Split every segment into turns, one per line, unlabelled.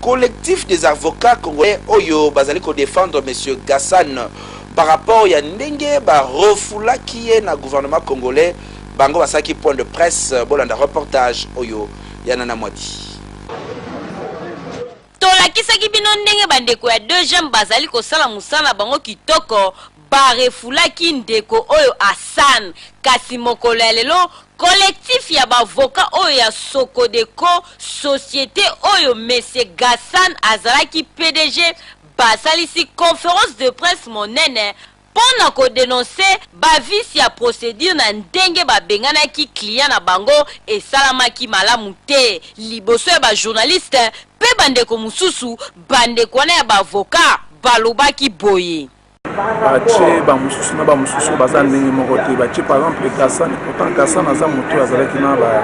Collectif des avocats congolais oyo bazali ko defendre monsieur Gassan par rapport ya ndenge ba refoulaki ye na gouvernement congolais, bango basalaki point de presse, bolanda reportage oyo ya Nana Mwadi.
Tolakisaki bino ndenge bandeko ya deux jambes bazali kosala mosala na bango kitoko. Ba refoulaki ndeko oyo Hassan, kasi mokolo ya lelo collectif ya ba avocats oyo ya Socodeco, societe oyo monsieur Gassan azalaki pdg, basalisi conference de presse monene mpo na ko denoncer ba vices ya procedure na ndenge babenganaki client na bango esalamaki malamu te liboso ya ba journalistes mpe bandeko mosusu. Bandeko wana ya ba avocats balobaki boye. batie
bamosusu na bamosusu baza ndenge moko te batie par exemple ekasani pourtant kasani aza moto oyo azalaki na ba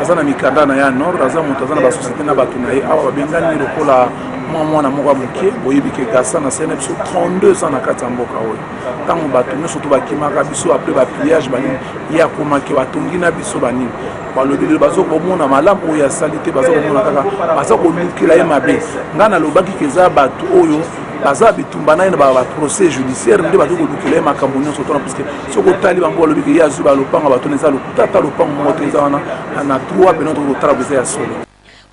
aza na mikanda na ye ya nord aza moto aza na basosiete na bato na ye awa babengani lokola mwa mwana moko ya moke boyebi ke gasa na sene biso 32 ans na kati ya mboka oyo ntango bato nyonso to bakimaka biso apres bapillage banini ye akomaki batongi na biso banini balobi lelo baza komona malamu oyo asali te baza komona kaka baza kolukela ye mabe ngai nalobaki ke eza bato oyo baza bitumba naye na baprocès judiciaire nde bakoki kolukela ye makambo nyonso tona puiske soki otali bango balobi ke ye azwi balopanga bato na eza lokuta ata lopango moko te eza wana na trois pene tokoki kotala boza ya solo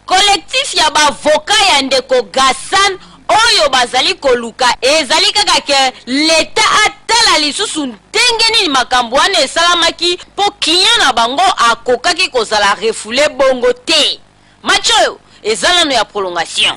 collectif
ya bavoka ya ndeko gassan oyo bazali koluka ezali kaka ke leta atala lisusu ndenge nini makambo wana esalamaki mpo klient na bango akokaki kozala refoule bongo te match oyo eza nano ya prolongation